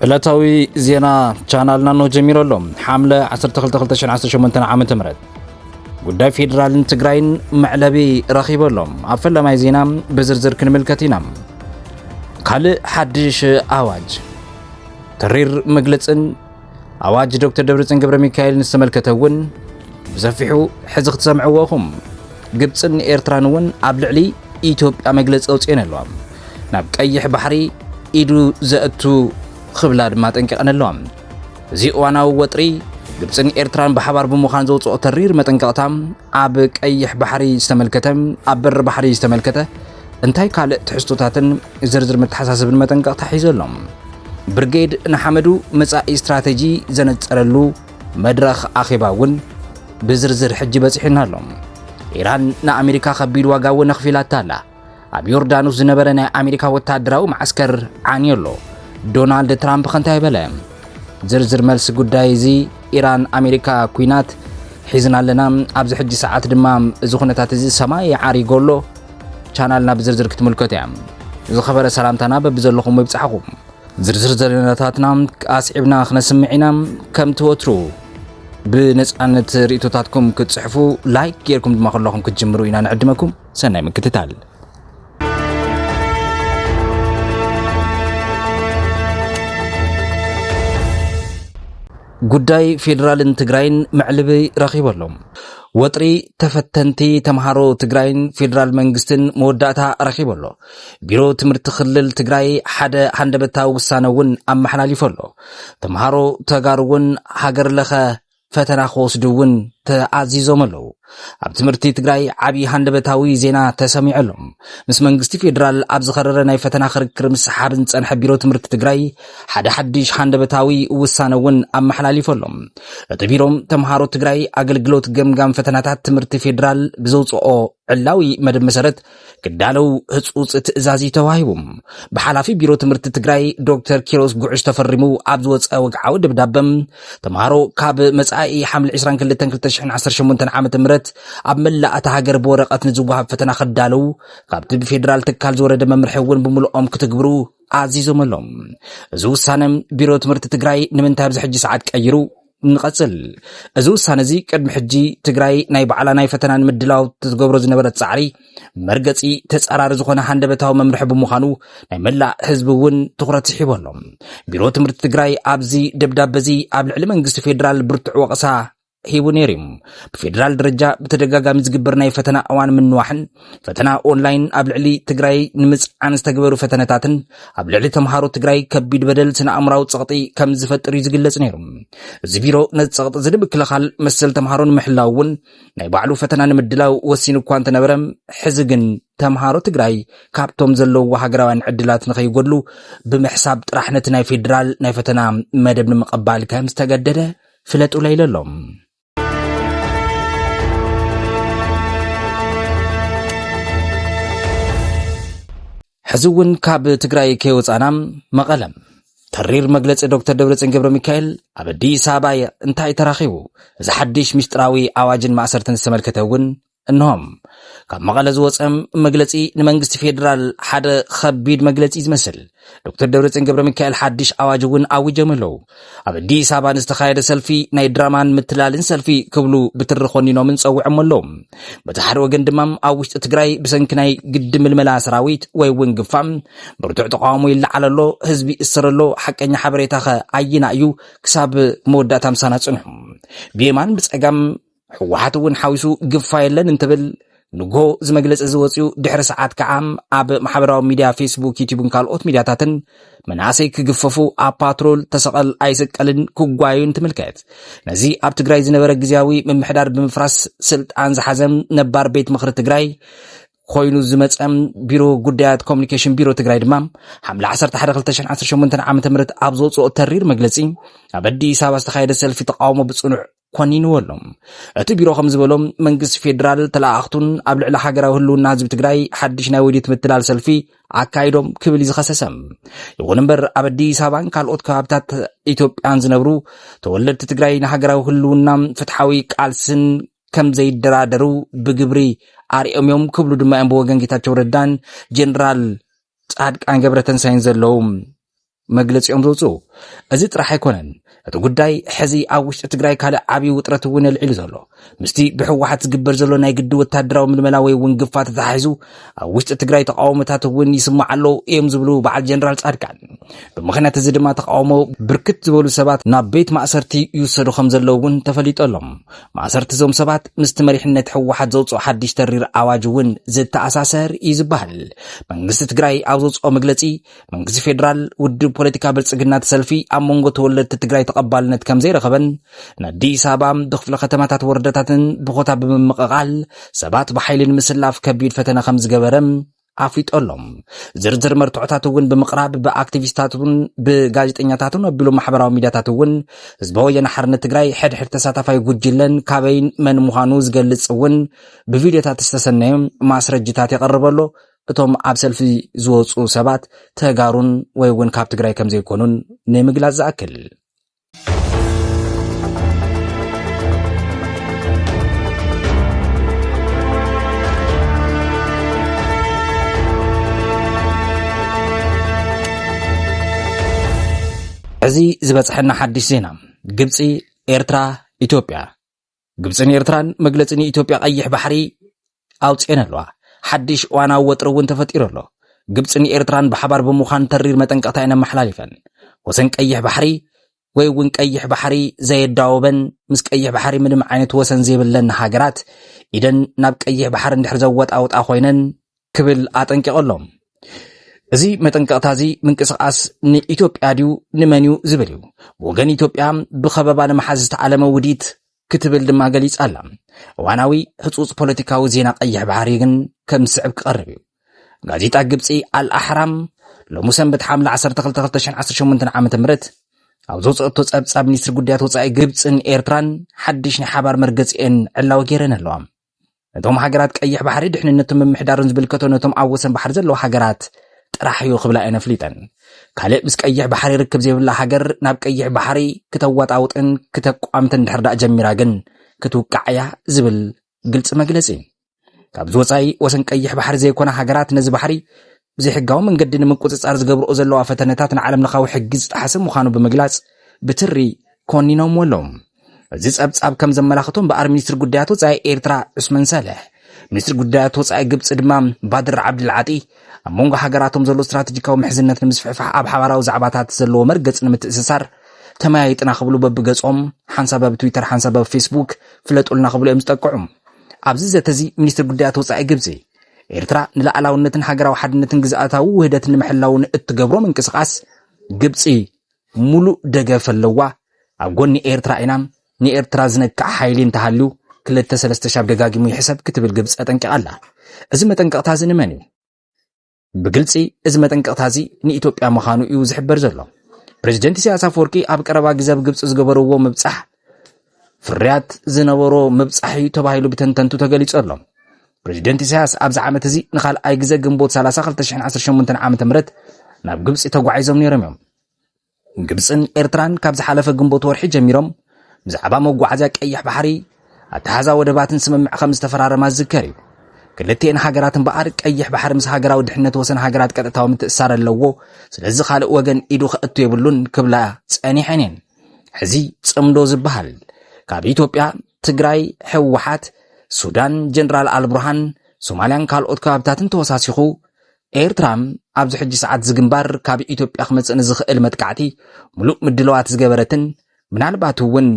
ዕለታዊ ዜና ቻናልና ኖ ጀሚሮ ኣሎ ሓምለ 122018 ዓ ም ጉዳይ ፌዴራልን ትግራይን መዕለቢ ረኺቡ ኣሎ ኣብ ፈለማይ ዜና ብዝርዝር ክንምልከት ኢና ካልእ ሓድሽ ኣዋጅ ተሪር መግለጽን ኣዋጅ ዶክተር ደብረጽዮን ገብረ ሚካኤልን ዝተመልከተ እውን ብሰፊሑ ሕዚ ክትሰምዕዎ ኢኹም። ግብፅን ኤርትራን እውን ኣብ ልዕሊ ኢትዮጵያ መግለፂ ኣውፅኤን ኣለዋ። ናብ ቀይሕ ባሕሪ ኢዱ ዘእቱ ክብላ ድማ ጠንቂቐን ኣለዋ። እዚ እዋናዊ ወጥሪ ግብፅን ኤርትራን ብሓባር ብምዃን ዘውፅኦ ተሪር መጠንቀቕታ ኣብ ቀይሕ ባሕሪ ዝተመልከተ ኣብ በሪ ባሕሪ ዝተመልከተ እንታይ ካልእ ትሕዝቶታትን ዝርዝር መተሓሳስብን መጠንቀቕታ ሒዙ ኣሎ? ብርጌድ ንሓመዱ መጻኢ ስትራቴጂ ዘነጸረሉ መድረኽ ኣኼባ እውን ብዝርዝር ሕጂ በጺሑና ኣሎ። ኢራን ንኣሜሪካ ከቢድ ዋጋ እውን ኣኽፊላታ ኣላ። ኣብ ዮርዳኖስ ዝነበረ ናይ ኣሜሪካ ወታደራዊ መዓስከር ዓንዮ ኣሎ። ዶናልድ ትራምፕ ከንታይ በለ? ዝርዝር መልሲ ጉዳይ እዚ ኢራን ኣሜሪካ ኩናት ሒዝና ኣለና፣ ኣብዚ ሕጂ ሰዓት ድማ እዚ ኩነታት እዚ ሰማይ ዓሪጎ ኣሎ። ቻናልና ብዝርዝር ክትምልከቱ እያ ዝኸበረ ሰላምታና በብዘለኹም ይብጻሕኹም ዝርዝር ዘለነታትና ኣስዒብና ክነስምዕ ኢና ከምቲ ወትሩ ብነፃነት ርእቶታትኩም ክትፅሕፉ ላይክ ጌርኩም ድማ ከለኹም ክትጅምሩ ኢና ንዕድመኩም ሰናይ ምክትታል ጉዳይ ፌዴራልን ትግራይን መዕልቢ ረኺቡ ኣሎ ወጥሪ ተፈተንቲ ተምሃሮ ትግራይን ፌዴራል መንግስትን መወዳእታ ረኺቡ ኣሎ። ቢሮ ትምህርቲ ክልል ትግራይ ሓደ ሃንደበታዊ ውሳነ እውን ኣመሓላሊፉ ኣሎ። ተምሃሮ ተጋሩ እውን ሃገር ለኸ ፈተና ክወስዱ እውን ተኣዚዞም ኣለዉ ኣብ ትምህርቲ ትግራይ ዓብዪ ሃንደበታዊ ዜና ተሰሚዑ ኣሎ ምስ መንግስቲ ፌዴራል ኣብ ዝኸረረ ናይ ፈተና ክርክር ምስሓብ ዝፀንሐ ቢሮ ትምህርቲ ትግራይ ሓደ ሓድሽ ሃንደበታዊ ውሳነ እውን ኣመሓላሊፉ ኣሎ። እቲ ቢሮ ተምሃሮ ትግራይ ኣገልግሎት ገምጋም ፈተናታት ትምህርቲ ፌዴራል ብዘውፅኦ ዕላዊ መደብ መሰረት ክዳለው ህፁፅ ትእዛዝ እዩ ተዋሂቡ። ብሓላፊ ቢሮ ትምህርቲ ትግራይ ዶክተር ኪሮስ ጉዕሽ ተፈሪሙ ኣብ ዝወፀ ወግዓዊ ደብዳበ ተምሃሮ ካብ መፃኢ ሓምሊ 22/2018 ዓ ም ኣብ መላእ እታ ሃገር ብወረቐት ንዝወሃብ ፈተና ክዳለው ካብቲ ብፌዴራል ትካል ዝወረደ መምርሒ እውን ብምልኦም ክትግብሩ ኣዚዞመሎም። እዚ ውሳነ ቢሮ ትምህርቲ ትግራይ ንምንታይ ኣብዚ ሕጂ ሰዓት ቀይሩ? ንቐጽል እዚ ውሳነ እዚ ቅድሚ ሕጂ ትግራይ ናይ ባዕላ ናይ ፈተና ንምድላው ትገብሮ ዝነበረት ፃዕሪ መርገፂ ተፃራሪ ዝኾነ ሃንደበታዊ መምርሒ ብምዃኑ ናይ መላእ ህዝቢ እውን ትኹረት ስሒቡ ኣሎ። ቢሮ ትምህርቲ ትግራይ ኣብዚ ደብዳበ እዚ ኣብ ልዕሊ መንግስቲ ፌዴራል ብርቱዕ ወቐሳ ሂቡ ነይሩ እዩ። ብፌዴራል ደረጃ ብተደጋጋሚ ዝግበር ናይ ፈተና እዋን ምንዋሕን ፈተና ኦንላይን ኣብ ልዕሊ ትግራይ ንምፅዓን ዝተገበሩ ፈተነታትን ኣብ ልዕሊ ተምሃሮ ትግራይ ከቢድ በደል ስነ ኣእምራዊ ፀቕጢ ከም ዝፈጥር እዩ ዝግለጽ ነይሩ። እዚ ቢሮ ነዚ ፀቕጢ እዚ ንምክልኻል መሰል ተምሃሮ ንምሕላው እውን ናይ ባዕሉ ፈተና ንምድላው ወሲኑ እኳ እንተነበረ ሕዚ ግን ተምሃሮ ትግራይ ካብቶም ዘለዎ ሃገራውያን ዕድላት ንኸይጎድሉ ብምሕሳብ ጥራሕ ነቲ ናይ ፌዴራል ናይ ፈተና መደብ ንምቐባል ከም ዝተገደደ ፍለጡለይ ለሎም። ሕዚ እውን ካብ ትግራይ ከይወፃና መቐለ ተሪር መግለፂ ዶክተር ደብረፅን ገብረ ሚካኤል ኣብ ኣዲስ ኣበባ እንታይ ተራኺቡ እዚ ሓድሽ ምስጢራዊ ኣዋጅን ማእሰርትን ዝተመልከተ እውን እንሆ ካብ መቐለ ዝወፀ መግለፂ ንመንግስቲ ፌዴራል ሓደ ከቢድ መግለፂ ዝመስል ዶክተር ደብረፅዮን ገብረ ሚካኤል ሓድሽ ኣዋጅ እውን ኣዊጆም ኣለዉ ኣብ ኣዲስ ኣበባ ንዝተኻየደ ሰልፊ ናይ ድራማን ምትላልን ሰልፊ ክብሉ ብትሪ ኮኒኖምን ፀውዖም ኣለዉ በቲ ሓደ ወገን ድማ ኣብ ውሽጢ ትግራይ ብሰንኪ ናይ ግዲ ምልመላ ሰራዊት ወይ እውን ግፋ ብርቱዕ ተቃውሞ ይለዓል ኣሎ ህዝቢ ይእሰር ኣሎ ሓቀኛ ሓበሬታ ከ ኣየና እዩ ክሳብ መወዳእታ ምሳና ፅንሑ ብየማን ብፀጋም ህወሓት እውን ሓዊሱ ግፋ የለን እንትብል ንጎ እዚ መግለፂ እዚ ወፅኡ ድሕሪ ሰዓት ከዓ ኣብ ማሕበራዊ ሚድያ ፌስቡክ ዩቲብን ካልኦት ሚድያታትን መናእሰይ ክግፈፉ ኣብ ፓትሮል ተሰቐል ኣይስቀልን ክጓዩ እንትምልከት ነዚ ኣብ ትግራይ ዝነበረ ግዜያዊ ምምሕዳር ብምፍራስ ስልጣን ዝሓዘም ነባር ቤት ምኽሪ ትግራይ ኮይኑ ዝመፀም ቢሮ ጉዳያት ኮሚኒኬሽን ቢሮ ትግራይ ድማ ሓምለ 112018 ዓ ም ኣብ ዘውፅኦ ተሪር መግለፂ ኣብ ኣዲስ ኣበባ ዝተካየደ ሰልፊ ተቃውሞ ብፅኑዕ ኮኒንዎ ኣሎ። እቲ ቢሮ ከም ዝበሎ መንግስቲ ፌዴራል ተለኣኣኽቱን ኣብ ልዕሊ ሃገራዊ ህልውና ህዝቢ ትግራይ ሓድሽ ናይ ወዲት ምትላል ሰልፊ ኣካይዶም ክብል እዩ ዝኸሰሰ። ይኹን እምበር ኣብ ኣዲስ ኣበባን ካልኦት ከባብታት ኢትዮጵያን ዝነብሩ ተወለድቲ ትግራይ ንሃገራዊ ህልውና ፍትሓዊ ቃልስን ከም ዘይደራደሩ ብግብሪ ኣርኦም እዮም ክብሉ ድማ እዮም ብወገን ጌታቸው ረዳን ጀኔራል ጻድቃን ገብረተንሳይን ዘለዉ መግለፂኦም ዘውፅኡ። እዚ ጥራሕ ኣይኮነን እቲ ጉዳይ ሕዚ ኣብ ውሽጢ ትግራይ ካልእ ዓብዪ ውጥረት እውን የልዒሉ ዘሎ ምስቲ ብሕወሓት ዝግበር ዘሎ ናይ ግዲ ወታደራዊ ምልመላ ወይ እውን ግፋ ተተሓሒዙ ኣብ ውሽጢ ትግራይ ተቃውሞታት እውን ይስማዕ ኣሎ እዮም ዝብሉ በዓል ጀነራል ፃድቃን ብምክንያት እዚ ድማ ተቃውሞ ብርክት ዝበሉ ሰባት ናብ ቤት ማእሰርቲ ይውሰዱ ከም ዘለዉ እውን ተፈሊጡ ኣሎ ማእሰርቲ እዞም ሰባት ምስቲ መሪሕነት ሕወሓት ዘውፅኦ ሓድሽ ተሪር ኣዋጅ እውን ዝተኣሳሰር እዩ ዝበሃል መንግስቲ ትግራይ ኣብ ዘውፅኦ መግለፂ መንግስቲ ፌዴራል ውድብ ፖለቲካ ብልፅግና እቲ ሰልፊ ኣብ መንጎ ተወለድቲ ትግራይ ተቐባልነት ከም ዘይረኸበን ንኣዲስ ኣበባ ብክፍለ ከተማታት ወረዳታትን ብኮታ ብምምቕቓል ሰባት ብሓይሊ ንምስላፍ ከቢድ ፈተነ ከም ዝገበረ ኣፍሊጦ ኣሎ ዝርዝር መርትዖታት እውን ብምቕራብ ብኣክቲቪስታት እውን ብጋዜጠኛታትን ኣቢሉ ማሕበራዊ ሚዲያታት እውን ህዝቢ ወያነ ሓርነት ትግራይ ሕድሕድ ተሳታፋይ ጉጅለን ካበይን መን ምዃኑ ዝገልጽ እውን ብቪድዮታት ዝተሰነዩ ማስረጅታት የቐርበሎ እቶም ኣብ ሰልፊ ዝወፁ ሰባት ተጋሩን ወይ እውን ካብ ትግራይ ከም ዘይኮኑን ንምግላፅ ዝኣክል እዚ ዝበፅሐና ሓድሽ ዜና ግብፂ ኤርትራ ኢትዮጵያ ግብፅን ኤርትራን መግለፂ ንኢትዮጵያ ቀይሕ ባሕሪ ኣውፅኤን ኣለዋ። ሓድሽ እዋናዊ ወጥሪ እውን ተፈጢሩ ኣሎ። ግብፅን ኤርትራን ብሓባር ብምዃን ተሪር መጠንቀቕታ እየን ኣመሓላሊፈን። ወሰን ቀይሕ ባሕሪ ወይ እውን ቀይሕ ባሕሪ ዘየዳወበን ምስ ቀይሕ ባሕሪ ምንም ዓይነት ወሰን ዘይብለን ሃገራት ኢደን ናብ ቀይሕ ባሕሪ እንድሕር ዘወጣውጣ ኮይነን ክብል ኣጠንቂቑ ኣሎ። እዚ መጠንቀቕታ እዚ ምንቅስቓስ ንኢትዮጵያ ድዩ ንመን እዩ ዝብል እዩ። ብወገን ኢትዮጵያ ብኸበባ ንምሓዝ ዝተዓለመ ውዲት ክትብል ድማ ገሊጻ ኣላ። እዋናዊ ህጹጽ ፖለቲካዊ ዜና ቀይሕ ባሕሪ ግን ከም ዝስዕብ ክቐርብ እዩ። ጋዜጣ ግብፂ ኣልኣሕራም ሎሚ ሰንበት ሓምለ 12/2018 ዓ ም ኣብ ዘውፅኦቶ ፀብፃብ ሚኒስትሪ ጉዳያት ወፃኢ ግብፅን ኤርትራን ሓድሽ ናይ ሓባር መርገፂኤን ዕላዊ ገይረን ኣለዋ ነቶም ሃገራት ቀይሕ ባሕሪ ድሕንነቱ ምምሕዳርን ዝብልከቶ ነቶም ኣብ ወሰን ባሕሪ ዘለዉ ሃገራት ጥራሕ እዩ ክብላ እየን ኣፍሊጠን ካልእ ምስ ቀይሕ ባሕሪ ርክብ ዘይብላ ሃገር ናብ ቀይሕ ባሕሪ ክተዋጣውጥን ክተቋምትን ድሕር ዳእ ጀሚራ ግን ክትውቃዕ እያ ዝብል ግልፂ መግለፂ ካብዚ ወፃኢ ወሰን ቀይሕ ባሕሪ ዘይኮነ ሃገራት ነዚ ባሕሪ ብዘይሕጋዊ መንገዲ ንምቁፅፃር ዝገብርኦ ዘለዋ ፈተነታት ንዓለም ለኻዊ ሕጊ ዝጠሓሰ ምዃኑ ብምግላፅ ብትሪ ኮኒኖምዎ ኣለዉ። እዚ ጸብጻብ ከም ዘመላኽቶ እምበኣር ሚኒስትሪ ጉዳያት ወጻኢ ኤርትራ ዑስመን ሳልሕ ሚኒስትሪ ጉዳያት ወጻኢ ግብጺ ድማ ባድር ዓብድልዓጢ ኣብ መንጎ ሃገራቶም ዘሎ ስትራቴጂካዊ ምሕዝነት ንምስፍሕፋሕ ኣብ ሓባራዊ ዛዕባታት ዘለዎ መርገጽ ንምትእስሳር ተመያይጥና ክብሉ በብገጾም ሓንሳብ ኣብ ትዊተር ሓንሳብ ኣብ ፌስቡክ ፍለጡልና ክብሉ እዮም ዝጠቅዑ ኣብዚ ዘተ እዚ ሚኒስትሪ ጉዳያት ወጻኢ ግብጺ ኤርትራ ንላዕላውነትን ሃገራዊ ሓድነትን ግዝኣታዊ ውህደት ንምሕላው ንእትገብሮ ምንቅስቓስ ግብፂ ሙሉእ ደገፍ ኣለዋ፣ ኣብ ጎኒ ኤርትራ ኢና፣ ንኤርትራ ዝነክዕ ሓይሊ እንተሃልዩ ክልተ ሰለስተ ሻብ ደጋጊሙ ይሕሰብ ክትብል ግብፂ ኣጠንቂቓ ኣላ። እዚ መጠንቀቕታ እዚ ንመን እዩ? ብግልፂ እዚ መጠንቀቕታ እዚ ንኢትዮጵያ ምዃኑ እዩ ዝሕበር ዘሎ። ፕሬዚደንት ኢሳያስ ኣፈወርቂ ኣብ ቀረባ ግዜ ኣብ ግብፂ ዝገበርዎ ምብፃሕ ፍርያት ዝነበሮ ምብፃሕ እዩ ተባሂሉ ብተንተንቱ ተገሊፁ ኣሎ። ፕሬዚደንት ኢሳያስ ኣብዚ ዓመት እዚ ንካልኣይ ግዜ ግንቦት 30 2018 ዓ ም ናብ ግብፂ ተጓዒዞም ነይሮም እዮም። ግብጽን ኤርትራን ካብ ዝሓለፈ ግንቦት ወርሒ ጀሚሮም ብዛዕባ መጓዓዝያ ቀይሕ ባሕሪ፣ ኣተሓሕዛ ወደባትን ስምምዕ ከም ዝተፈራረማ ዝዝከር እዩ። ክልቲኤን ሃገራት እምበኣር ቀይሕ ባሕሪ ምስ ሃገራዊ ድሕነት ወሰን ሃገራት ቀጥታዊ ምትእስሳር ኣለዎ፣ ስለዚ ካልእ ወገን ኢዱ ከእቱ የብሉን ክብላ ጸኒሐን እየን። ሕዚ ጽምዶ ዝበሃል ካብ ኢትዮጵያ፣ ትግራይ፣ ህወሓት፣ ሱዳን፣ ጀነራል ኣልቡርሃን፣ ሶማልያን ካልኦት ከባብታትን ተወሳሲኹ ኤርትራ ኣብዚ ሕጂ ሰዓት እዚ ግንባር ካብ ኢትዮጵያ ክመጽእ ንዝኽእል መጥቃዕቲ ምሉእ ምድለዋት ዝገበረትን ምናልባት እውን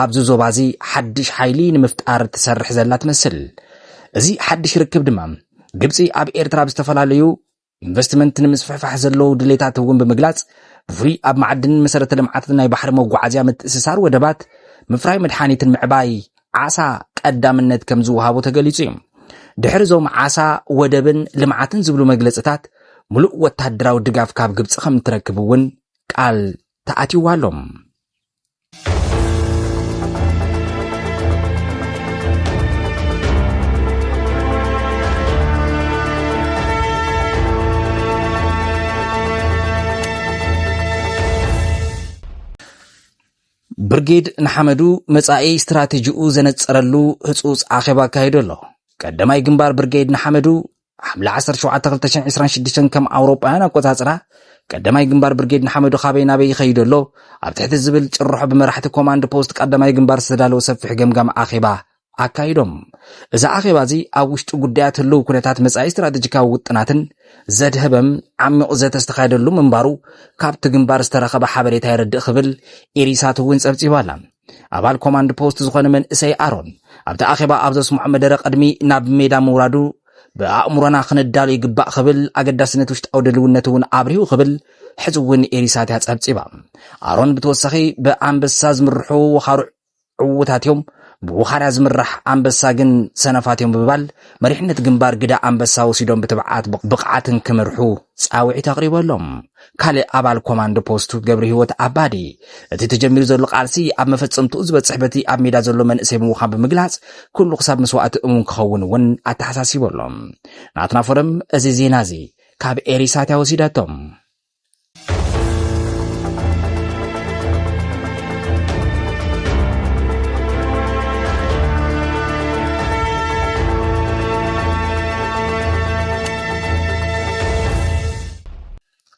ኣብዚ ዞባ እዚ ሓድሽ ሓይሊ ንምፍጣር ትሰርሕ ዘላ ትመስል። እዚ ሓድሽ ርክብ ድማ ግብፂ ኣብ ኤርትራ ኣብ ዝተፈላለዩ ኢንቨስትመንት ንምስፍሕፋሕ ዘለዉ ድሌታት እውን ብምግላጽ ብፍሉይ ኣብ ማዕድንን መሰረተ ልምዓትን ናይ ባሕሪ መጓዓዝያ ምትእስሳር ወደባት ምፍራይ መድሓኒትን ምዕባይ ዓሳ ቀዳምነት ከም ዝወሃቦ ተገሊጹ እዩ። ድሕሪ እዞም ዓሳ፣ ወደብን ልምዓትን ዝብሉ መግለጽታት ምሉእ ወተሃደራዊ ድጋፍ ካብ ግብፂ ከም እትረክብ እውን ቃል ተኣትይዋ ኣሎ። ብርጌድ ንሓመዱ መጻኢ ስትራቴጂኡ ዘነጸረሉ ህጹጽ ኣኼባ ኣካይዱ ኣሎ። ቀዳማይ ግንባር ብርጌድ ንሓመዱ ሓምለ 17/2026 ከም ኣውሮጳውያን ኣቆጻጽራ ቀዳማይ ግንባር ብርጌድ ንሓመዱ ካበይ ናበይ ይኸይድ ኣሎ ኣብ ትሕቲ ዝብል ጭርሖ ብመራሕቲ ኮማንድ ፖስት ቀዳማይ ግንባር ዝተዳለወ ሰፊሕ ገምጋም ኣኼባ ኣካይዶም። እዚ ኣኼባ እዚ ኣብ ውሽጢ ጉዳያት ህልው ኩነታት መጻኢ ስትራቴጂካዊ ውጥናትን ዘድሀበም ዓሚቝ ዘተ ዝተኻየደሉ ምንባሩ ካብቲ ግንባር ዝተረኸበ ሓበሬታ የረድእ ክብል ኢሪሳት እውን ጸብጺባ ኣላ። ኣባል ኮማንድ ፖስት ዝኾነ መንእሰይ ኣሮን ኣብቲ ኣኼባ ኣብ ዘስምዖ መደረ ቅድሚ ናብ ሜዳ ምውራዱ ብኣእምሮና ክንዳሉ ይግባእ ክብል ኣገዳስነት ውሽጣዊ ድልውነት እውን ኣብሪሁ ክብል ሕዚ እውን ኤሪሳት እያ ጸብጺባ ኣሮን ብተወሳኺ ብኣንበሳ ዝምርሑ ወኻሩዕ ዕዉታት እዮም ብውኻርያ ዝምራሕ ኣንበሳ ግን ሰነፋት እዮም ብምባል መሪሕነት ግንባር ግዳ ኣንበሳ ወሲዶም ብትብዓት ብቕዓትን ክምርሑ ጻውዒት ኣቕሪበሎም። ካልእ ኣባል ኮማንዶ ፖስት ገብረሂወት ኣባዲ እቲ ተጀሚሩ ዘሎ ቃልሲ ኣብ መፈጸምትኡ ዝበጽሕ በቲ ኣብ ሜዳ ዘሎ መንእሰይ ምዃን ብምግላጽ ኩሉ ክሳብ መስዋእቲ እሙን ክኸውን እውን ኣተሓሳሲበሎም። ናትና ፎረም እዚ ዜና እዚ ካብ ኤሪሳትያ ወሲዳቶም።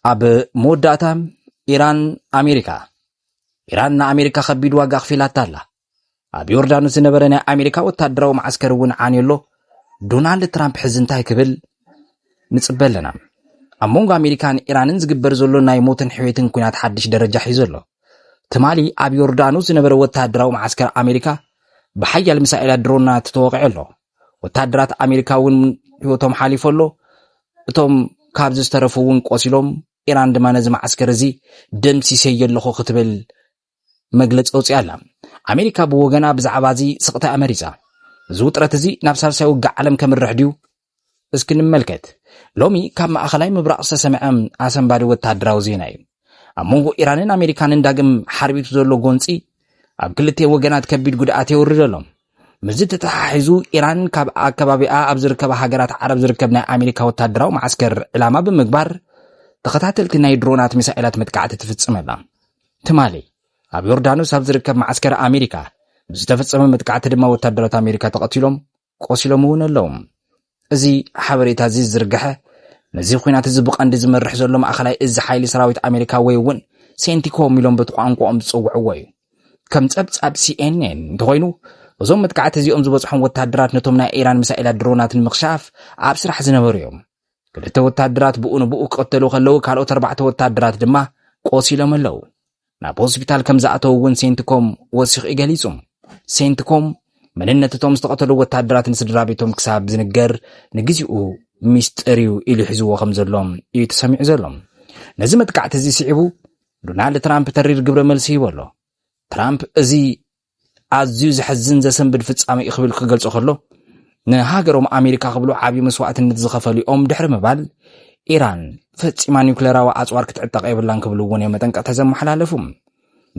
ኣብ መወዳእታ ኢራን ኣሜሪካ ኢራን ንኣሜሪካ ከቢድ ዋጋ ኣኽፊላታ ኣላ ኣብ ዮርዳኖስ ዝነበረ ናይ ኣሜሪካ ወታደራዊ መዓስከር እውን ዓንዩ ኣሎ ዶናልድ ትራምፕ ሕዚ እንታይ ክብል ንፅበ ኣለና ኣብ መንጎ ኣሜሪካን ኢራንን ዝግበር ዘሎ ናይ ሞትን ሕዌትን ኩናት ሓድሽ ደረጃ ሒዙ ኣሎ ትማሊ ኣብ ዮርዳኖስ ዝነበረ ወታደራዊ መዓስከር ኣሜሪካ ብሓያል ሚሳኤላት ድሮናት ተወቂዑ ኣሎ ወታደራት ኣሜሪካ እውን ህይወቶም ሓሊፉ ኣሎ እቶም ካብዚ ዝተረፉ እውን ቆሲሎም ኢራን ድማ ነዚ መዓስከር እዚ ደምሲሰዮ ኣለኹ ክትብል መግለጺ ኣውጺኣ ኣላ። ኣሜሪካ ብወገና ብዛዕባ እዚ ስቕታ እያ መሪጻ። እዚ ውጥረት እዚ ናብ ሳልሳይ ውግእ ዓለም ከምርሕ ድዩ? እስኪ ንመልከት። ሎሚ ካብ ማእኸላይ ምብራቕ ዝተሰምዐ ኣሰንባዲ ወተሃደራዊ ዜና እዩ። ኣብ መንጎ ኢራንን ኣሜሪካንን ዳግም ሓርቢቱ ዘሎ ጎንጺ ኣብ ክልቲኤን ወገናት ከቢድ ጉድኣት የውርድ ኣሎ። ምስዚ ተተሓሒዙ ኢራን ካብ ኣከባቢኣ ኣብ ዝርከባ ሃገራት ዓረብ ዝርከብ ናይ ኣሜሪካ ወታደራዊ መዓስከር ዕላማ ብምግባር ተኸታተልቲ ናይ ድሮናት ሚሳኤላት መጥቃዕቲ ትፍጽም ኣላ። ትማሊ ኣብ ዮርዳኖስ ኣብ ዝርከብ መዓስከር ኣሜሪካ ብዝተፈጸመ መጥቃዕቲ ድማ ወታደራት ኣሜሪካ ተቐቲሎም ቆሲሎም እውን ኣለዉ እዚ ሓበሬታ እዚ ዝርግሐ ነዚ ኩናት እዚ ብቐንዲ ዝመርሕ ዘሎ ማእኸላይ እዚ ሓይሊ ሰራዊት ኣሜሪካ ወይ እውን ሴንቲኮም ኢሎም በቲ ቋንቋኦም ዝፅውዕዎ እዩ ከም ፀብፃብ ሲኤንኤን እንተኮይኑ እዞም መጥቃዕቲ እዚኦም ዝበፅሖም ወታደራት ነቶም ናይ ኢራን ሚሳኤላት ድሮናት ንምክሻፍ ኣብ ስራሕ ዝነበሩ እዮም ክልተ ወታደራት ብኡ ንብኡ ክቕተሉ ከለዉ ካልኦት ኣርባዕተ ወታደራት ድማ ቆሲሎም ኣለዉ ናብ ሆስፒታል ከም ዝኣተዉ እውን ሴንትኮም ወሲኹ እዩ ገሊጹ ሴንትኮም መንነት እቶም ዝተቐተሉ ወታደራት ንስድራ ቤቶም ክሳብ ዝንገር ንግዜኡ ሚስጥር እዩ ኢሉ ሒዝዎ ከም ዘሎ እዩ ተሰሚዑ ዘሎ ነዚ መጥቃዕቲ እዚ ስዒቡ ዶናልድ ትራምፕ ተሪር ግብረ መልሲ ሂቦ ኣሎ ትራምፕ እዚ ኣዝዩ ዘሕዝን ዘሰንብድ ፍጻሜ እዩ ክብል ክገልጾ ከሎ ንሃገሮም ኣሜሪካ ክብሉ ዓብዪ መስዋእትነት ዝኸፈሉ እዮም ድሕሪ ምባል ኢራን ፈጺማ ኒውክሌራዊ ኣጽዋር ክትዕጠቕ የብላን ክብሉ እውን እዮም መጠንቀቕታ ዘመሓላለፉ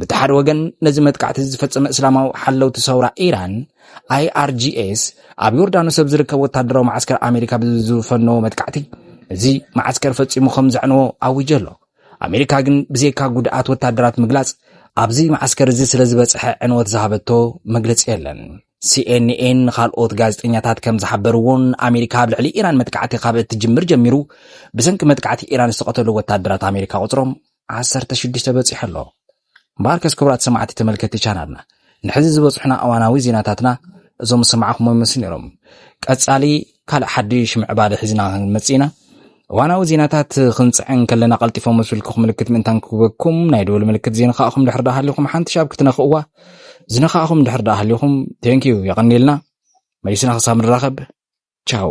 በቲ ሓደ ወገን ነዚ መጥቃዕቲ ዝፈጸመ እስላማዊ ሓለውቲ ሰውራ ኢራን ኣይኣርጂኤስ ኣብ ዮርዳኖስ ኣብ ዝርከብ ወታደራዊ መዓስከር ኣሜሪካ ብዝፈነዎ መጥቃዕቲ እዚ መዓስከር ፈጺሙ ከም ዘዕነዎ ኣዊጀ ኣሎ ኣሜሪካ ግን ብዘይካ ጉድኣት ወታደራት ምግላጽ ኣብዚ መዓስከር እዚ ስለ ዝበጽሐ ዕንወት ዝሃበቶ መግለጺ የለን። ሲኤንኤን ንኻልኦት ጋዜጠኛታት ከም ዝሓበርዎን ኣሜሪካ ኣብ ልዕሊ ኢራን መጥቃዕቲ ካብ እትጅምር ጀሚሩ ብሰንኪ መጥቃዕቲ ኢራን ዝተቐተሉ ወታደራት ኣሜሪካ ቁጽሮም 16 በጺሑ ኣሎ። እምበኣርከስ ክቡራት ሰማዕቲ ተመልከቲ ቻናልና ንሕዚ ዝበጽሑና እዋናዊ ዜናታትና እዞም ዝሰማዕኹምዎም ይመስሉ ነይሮም። ቀጻሊ ካልእ ሓድሽ ምዕባለ ሒዝና ክንመጽእ ኢና። እዋናዊ ዜናታት ክንጽዕን ከለና ቀልጢፎም ምስ ብልክኹም ምልክት ምእንታን ክህበኩም ናይ ደወል ምልክት ዘይነኻእኹም ድሕር ደኣ ሃሊኹም ሓንቲ ሻብ ክትነኽእዋ ዝነኻእኹም ድሕር ደኣ ሃሊኹም ቴንኪዩ የቐኒልና መሊስና ክሳብ ንራኸብ ቻው